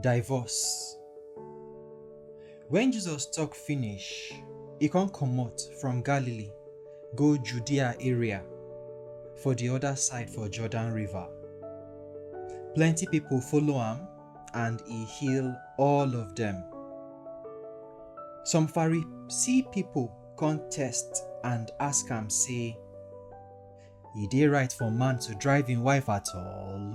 Divorce. Wen Jesus tok finish, e come comot from Galilee go Judea area for di oda side for Jordan River. Plenty pipo follow am and e heal all of dem. Some Pharisee pipo come test and ask am sey, E dey right for man to drive im wife at all?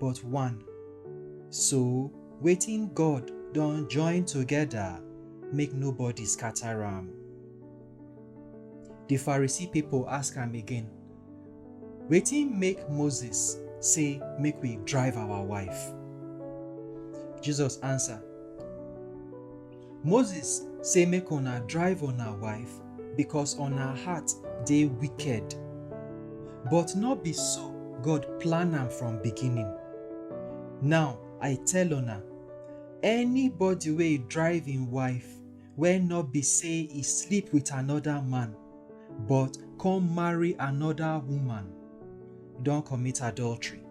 but one. So, wetin God don join together, make nobody scatter am. The Pharisee people ask am again, Wetin make Moses say make we drive our wife? Jesus answer, Moses say make una drive una wife because una heart dey wicked. But no be so God plan am from beginning. Now I tell una, anybody wey drive im wife wey no be say e sleep with another man but come marry another woman don commit adultery.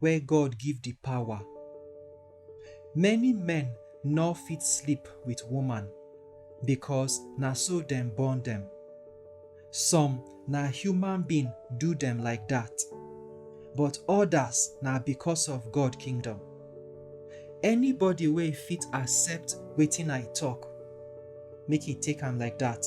wey God give di pawa. Many men nor fit sleep wit woman bikos na so dem born dem. Some na human being do dem like dat, but odas na bikos of God kingdom. Anybody wey fit accept wetin I tok, make e take am like dat.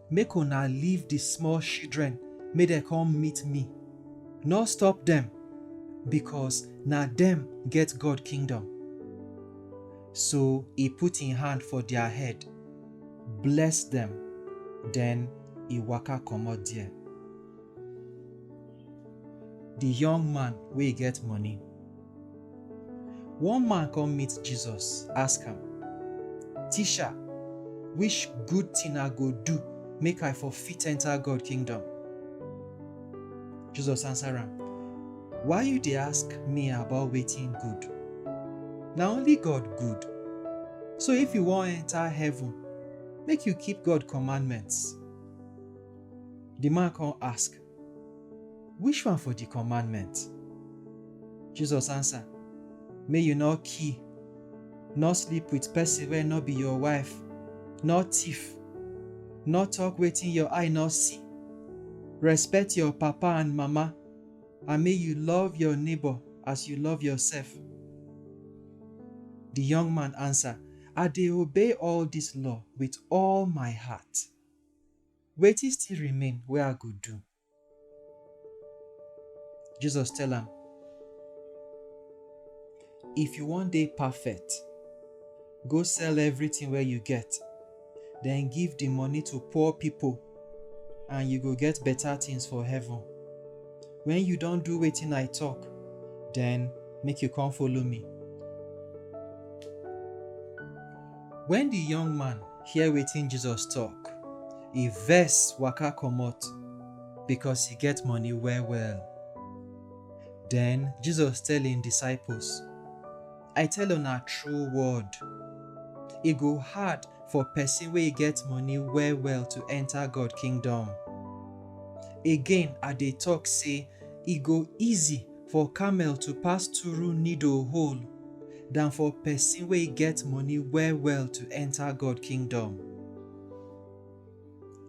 Make una leave di small shidren make dem kom meet mi, nor stop dem, bikos na dem get God kingdom. So e put en hand for dia head, bless dem, den e waka komot der. Di yong man wey get moni. One man come meet Jesus, ask am, Teacher, which good thing I go do make I for fit enter God kingdom? Jesus answer am, Why you dey ask me about wetin good? Na only God good. So if you wan enter heaven, make you keep God commandments. The man come ask, Which one for di commandment? Jesus ansa, Make you nor kill, nor sleep wit pesin wey nor be your wife, nor tiff, nor tok wetin your eye nor see, respet your papa and mama, and make you love your neighbor as you love yoursef. Di young man ansa, I dey obey all dis law wit all my heart. Wetin still remain wey I go do? Jesus tell am, If you wan dey perfect, go sell everything wey you get, then give the money to poor people, and you go get better things for heaven. When you don do wetin I talk, then make you come follow me. When the young man hear wetin Jesus talk, e vex waka comot because e get money well well. Then Jesus tell im disciples, I tell una true word, e go hard for person wey get money well well to enter God kingdom. Again I dey talk say e go easy For camel to pass turu needle hole dan for pesin wey get moni well-well to enta God Kingdom.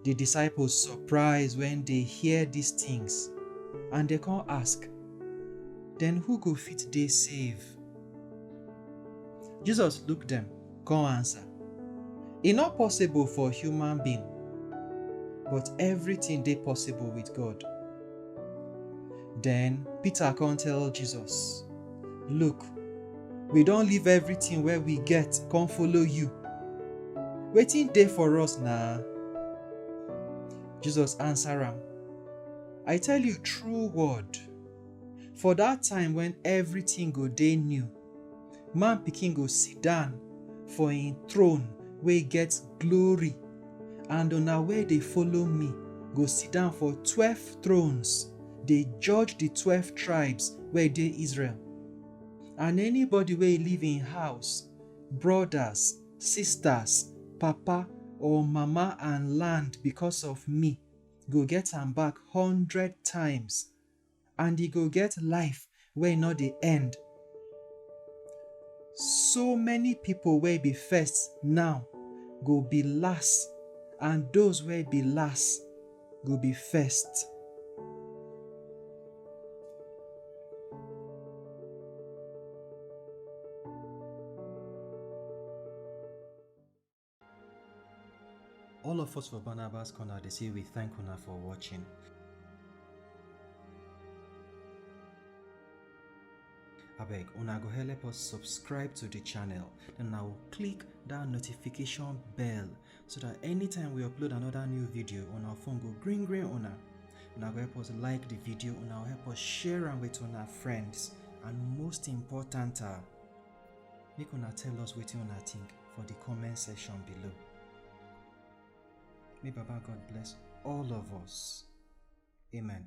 Di disciples surprise wen dey hear dis tins and dem kon ask, Den who go fit dey save? Jesus look dem. Come answer. E no possible for human being, but everything dey possible with God. Then Peter come tell Jesus, Look, we don leave everything wey we get come follow you. Wetin dey for us na? Jesus answer am, I tell you true word, for that time when everything go dey new, Man pikin go sit down for im throne wey get glory, and una wey dey follow me go sit down for twelve thrones, dey judge di twelve tribes wey dey Israel. And anybody wey leave im house, brothers, sisters, papa or mama and land because of me go get am back hundred times. and e go get life wey no dey end. So many people wey be first now go be last and those wey be last go be first. All of us for Barnabas Corner dey say we thank una for watching. abeg una go help us subscribe to the channel then now click that notification bell so that anytime we upload another new video on our phone go green green una una go help us like the video una go help us share am with una friends and most important ah Make una tell us wetin una think for the comment section below. May Baba God bless all of us. Amen.